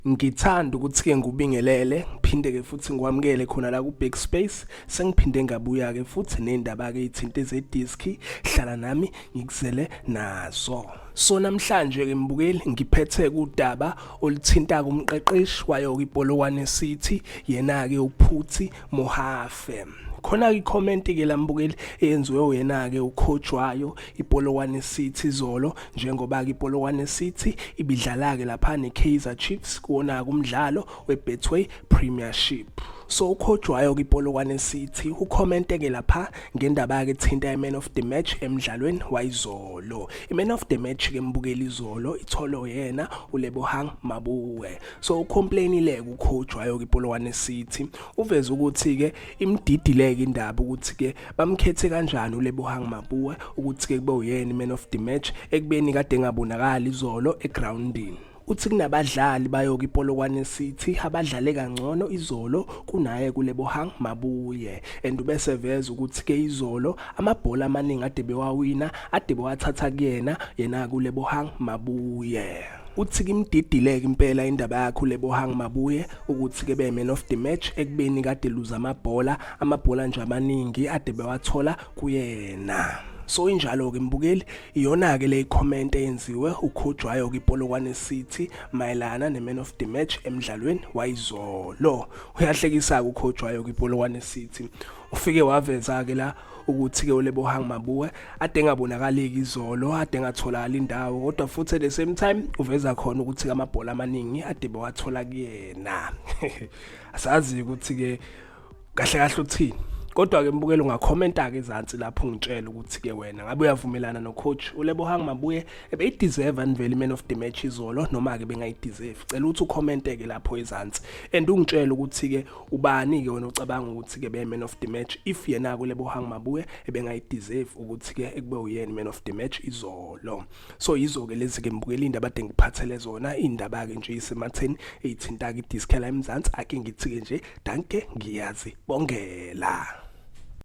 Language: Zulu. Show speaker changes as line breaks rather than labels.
Ngithanda ukuthi-ke ngikubingelele ngiphinde-ke futhi ngikwamukele khona la ku-back space sengiphinde ngabuya-ke futhi ney'ndaba-ke iy'thinte zediski hlala nami ngikuzele nazo so namhlanje-ke mbukeli ngiphethe kudaba oluthinta kumqeqeshi wayo-ke ipolokwane city yena-ke uphuthi mohafe khona i-comment ke lambukeli eyenziwe uyena ke ukhojwayo iPolokwane City zolo njengoba ke iPolokwane City ibidlala ke lapha neKaizer Chiefs kuona kumdlalo weBetway Premiership so ukhojwayo kwiPolokwane City ucommente ke lapha ngendaba yakhe thinta iMan of the Match emdlalweni wayizolo iMan of the Match ke mbukeli izolo itholo yena uLebohang Mabuwe so ucomplainile kukhojwayo kwiPolokwane City Uveze ukuthi-ke imdidileke indaba ukuthi-ke bamkhethe kanjani uLebohang Mapuwe ukuthi-ke kube uyena i-man of the match ekubeni kade engabonakali izolo egrawundini. Uthi kunabadlali bayoke iPolokwane City abadlale kangcono izolo kunaye kuLebohang Mabuye and ubese veza ukuthi ke izolo amabhola amaningi ade bewawina ade bewathatha kuyena yena kuLebohang Mabuye. uthi kimdidileke impela indaba yakhe uLebohang Mabuye ukuthi ke be man of the match ekubeni kade luza amabhola amabhola nje amaningi ade bewathola kuyena so injalo ke mbukeli iyona ke le comment eyenziwe ukhojwayo kipolokwane city mayelana ne man of the match emdlalweni wayizolo uyahlekisa ukhojwayo kipolokwane city ufike waveza ke la ukuthi ke ulebo hang mabuwe ade engabonakaleki izolo ade engatholakala indawo kodwa futhi at the same time uveza khona ukuthi amabhola amaningi ade bewathola kuyena asazi ukuthi ke kahle kahle uthini kodwa ke mbukeli ungakhomenta ke ezansi lapho ngitshela ukuthi ke wena ngabe uyavumelana no coach ulebo hang mabuye ebeyideserve anivele man of the match izolo noma ke bengayideserve cela ukuthi ukhomente ke lapho ezansi and ungitshela ukuthi ke ubani-ke wena ucabanga ukuthi-ke beye-man of the match if yena-ke ulebohang mabuye ebengayideserve ukuthi-ke ekube uyena man of the match izolo so yizo-ke lezi-ke mbukela iy'ndaba ade ngiphathele zona iy'ndaba-ke nje isematheni eyithinta-ke idiskela emzansi ake ngithi-ke nje danke ngiyazi bongela